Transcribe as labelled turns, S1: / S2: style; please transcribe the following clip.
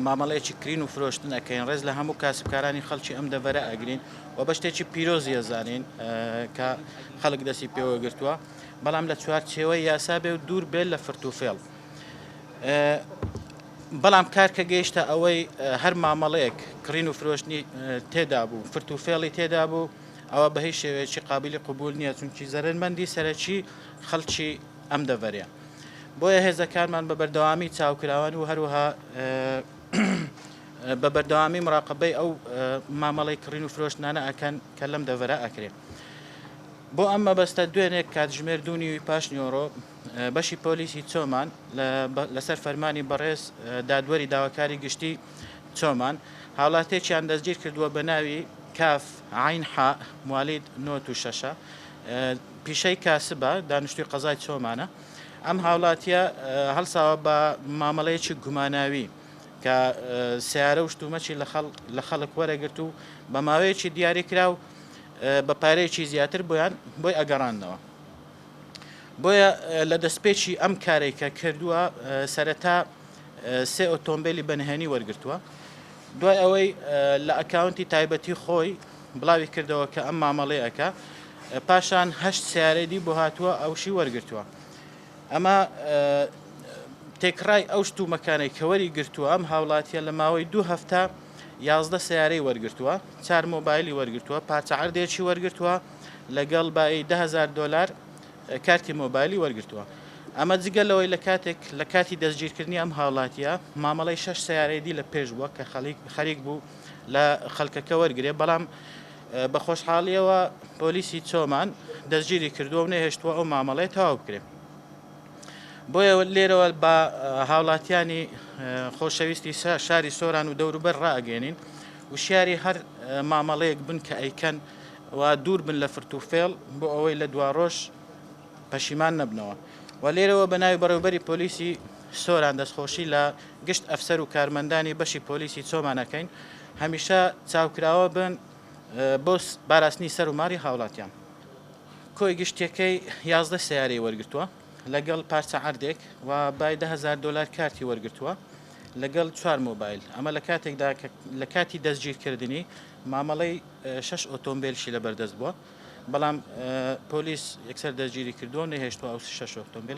S1: مامەڵەیەکی کرین و فرۆشتن ئەکەین ڕێز لە هەموو کاسبکارانی خەڵکی ئەم دەڤەرە ئەگرین و بە شتێکی پیرۆزی ئەزانین کە خەڵک دەستی پێوە گرتووە بەڵام لە چوارچێوەی یاسا بێ و دوور بێت لە فرتوفێڵ بەڵام کار کە گەیشتە ئەوەی هەر مامەڵەیەک کڕین و فرۆشتنی تێدا بوو فرت و فێڵی تێدا بوو ئەوە بە هیچ شێوەیەکی قابلی قوبول نییە چونکی زەرمەندی سەرەکی خەڵکی ئەم دەڤەرە بۆیە هێزەکانمان بە بەردەوامی چاوکراوەن و هەروەها بە بەردەوامی مراقبەی ئەو مامەڵی کڕین و فرۆشتنانە ئەکەن کە لەم دەڤەرە ئەکرێت. بۆ ئەم مەبەستە دوێنێک کاتژمێر دوو نیوی پاش نیۆڕۆ بەشی پۆلیسی چۆمان لەسەر فەرمانی بەڕێز دادوەری داواکاری گشتی چۆمان هاوڵاتێکیان دەستگیر کردووە بە ناوی کاف عین حا موالید نۆ و شەشە پیشەی کاسبە، دانیشتووی قەزای چۆمانە، ئەم هاوڵاتییە هەڵساوە بە مامەڵەیەکی گوماناوی کە سەیارە و شتومەکی لە خەڵک وەرەگرت و بە ماوەیەکی دیاریکراو بە پارەیەکی زیاتر بۆیان بۆی ئەگەڕاندنەوە. بۆیە لە دەستپێکی ئەم کارەی کە کردووە سەرەتا سێ ئۆتۆمبێلی بە نهێنی وەرگرتووە، دوای ئەوەی لە ئەکاونتی تایبەتی خۆی، بڵاوی کردەوە کە ئەم مامەڵەی ئەکا پاشان هەشت سیارەی دی بۆ هاتووە ئەوشی وەرگرتووە ئەمە تێکڕای ئەو شتومەکانەی کەوەری گرتووە ئەم هاوڵاتیە لە ماوەی دوو هەفتە یازدە سیارەی وەرگرتووە چار مۆبایلی وەرگرتووە پارچەعردێکی وەرگرتووە لەگەڵ بای دههزار دلار کارتی مۆبایلی وەرگتووە ئەمە جگە لەوەی لە کاتێک لە کاتی دەستگیرکردنی ئەم هاوڵاتیە مامەڵی شش سیارەیدی لە پێش بووە کە خەڵیک خەریک بوو لە خەلکەکە وەرگرێ بەڵام بە خۆشحاڵیەوە پۆلیسی چۆمان دەستگیری کردووە و نەهێشتووە ئەو مامەڵەیە تەواو بکرێت بۆیە لێرەوە بە هاوڵاتیانی خۆشەویستی شاری سۆران و دەوروبەر ڕاگەێنین وشیاری هەر مامەڵەیەک بن کە ئەیکەن و دوور بن لە فرتوفێڵ بۆ ئەوەی لە دواڕۆژ پەشیمان نەبنەوە و لێرەوە بە ناوی بەڕێوبەری پۆلیسی سۆران دەستخۆشی لە گشت ئەفسەر و کارمەندانی بەشی پۆلیسی چۆمان ئەکەین هەمیشە چاوکراوە بن بۆ باراستنی سەر و ماری هاوڵاتیان. کۆی گشتیەکەی یازدە سەیارەی وەرگرتووە لەگەڵ پارچە عەردێک و بای دە هەزار دۆلار کارتی وەرگرتووە لەگەڵ چوار مۆبایل ئەمە لە کاتێکدا کە لە کاتی دەستگیرکردنی مامەڵەی شەش ئۆتۆمبێلشی لەبەردەست بووە. بەڵام پۆلیس یەکسەر دەستگیری کردووە و نەهێشتووە ئەو شەش ئۆتۆمبێلە.